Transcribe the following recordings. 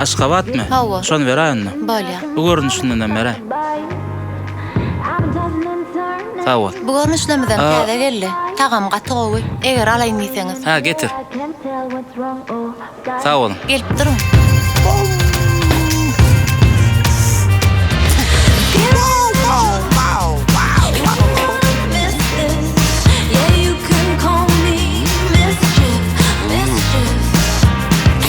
Aşgabatmy? Hawa. Şony beräýenmi? Bolýa. Bu görnüşindenem beräý. Sag bol. Bu görnüşlemizem täze geldi. Tagamy gaty gowy. Eger alaýyn diýseňiz. Hä, getir. Sag boluň. Gelip duruň.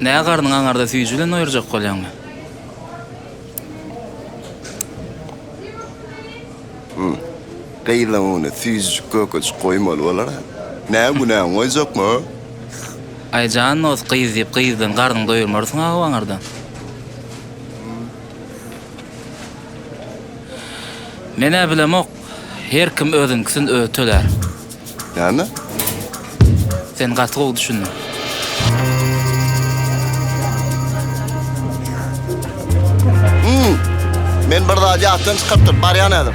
Nä garnyň aňarda süýji bilen doýurjak bolýaňmy? Gyzyň öňüne süýjüjik kökejik goýmaly bolar-a. Nä günäňi goýjakmy, hä? Aý jan dost, gyz diýip gyzdan garnyňy doýurmarsyň-a-ow aňardan. Menä bilemok, her kim özüňkisin özi tölär. Näme? Sen gaty gowy düşündiň. Men bir zady ýatdan çykarypdyryn, barýan häzir.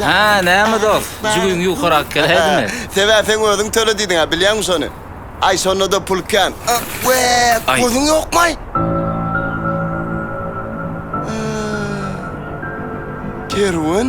Hä, näme dost, jügüň ýukarak geläýdimi? Sebäp sen özüň töle diýdiň-ä, bilýäňmi şony? Aý, şonda-da pul kän. Wee, gözüň ýokmaý? Kerwen?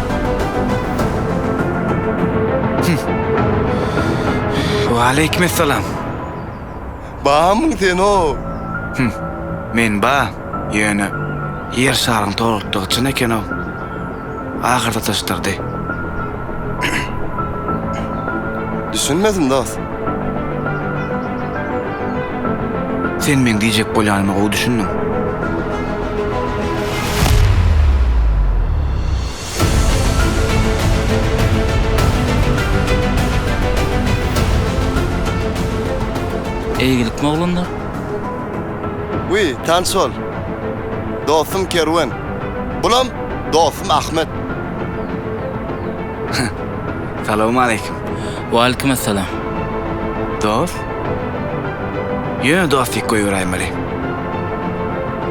Waleýkim essalam. Bamyň sen-o? Hum. Men ba, ýöne Ýer şaryň tolukdygy çyn eken-ow. Ahyrda dyşdyrdy. Düşünmedim dost. Sen meň diýjek bolýanyma gowy düşündiň. Eýgilikmi oglanlar? Wiý, tans bol. Dostum Kerwen. Bulam dostum Ahmet. Salowmaleýkim. Waleýkim assalam. Dos? Ýöne dostik goýberäýmeli.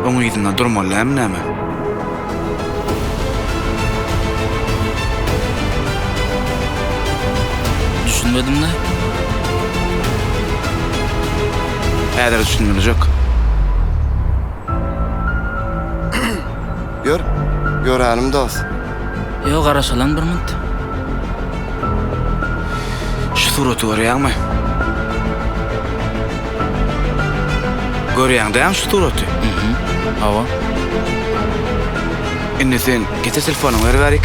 Oň yzynda durmaly dälmi näme? Düşünmedim-le. Häzir düşündirijek. Ýör, ýörälim dos. Ýo, garaşalyň bir munt. Şu suraty görýäňmi? Görýäň dämi şu suraty? Hm, hawa. Indi sen getir telefonyňy beribärik.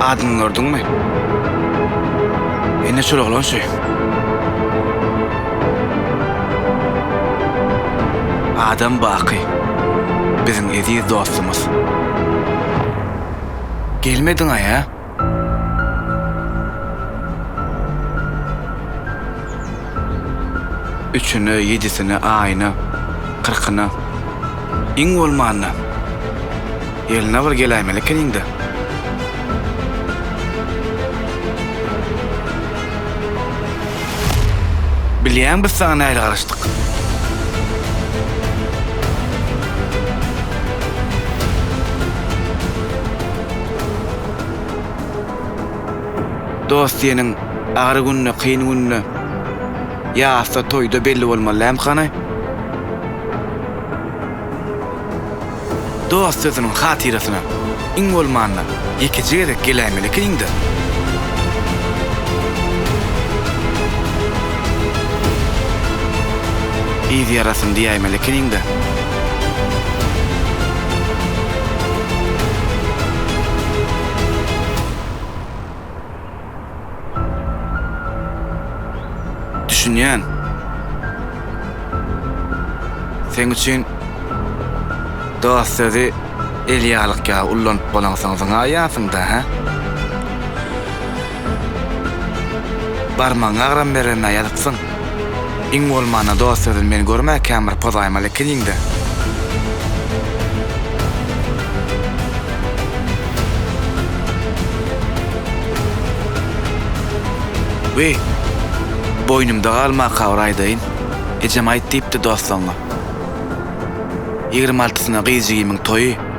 Adyny gördüňmi? Ine şol oglan şu. Adam Baky. Biziň eziz dostumyz. Gelmediň-aý, hä? Üçüne, ýedisine aýyna, kyrkyna, iň bolmanda, ýylyna bir geläýmeli ekeniň-dä. Bilýäň biz saňa nähili garaşdyk? Dost seniň agyr günde, kyn günde, ýasda, toýda belli bolmaly däm hany? Dost sözüniň hatyrasyna iň bolmanda ýekeje gezek geläýmeli ekeniň-dä? Yz ýarasyn diýäýmeli ekeniň-dä? Düşünýän. Seň üçin dost sözi elýalyk ýaly ullanyp bolaňsoň zyňaýýarsyň-da, hä? Barmagyňy agram berenä ýazyksyň. Iň bolmanda dost sözün men görmä kän bir pozaýmaly ekeniňdä. Wiý, boýnumda galmaka bir aýdaýyn. Ejem aýt diýipdi dostlaňňa. Ýigrimi altysyna gyz jigimiň toýy.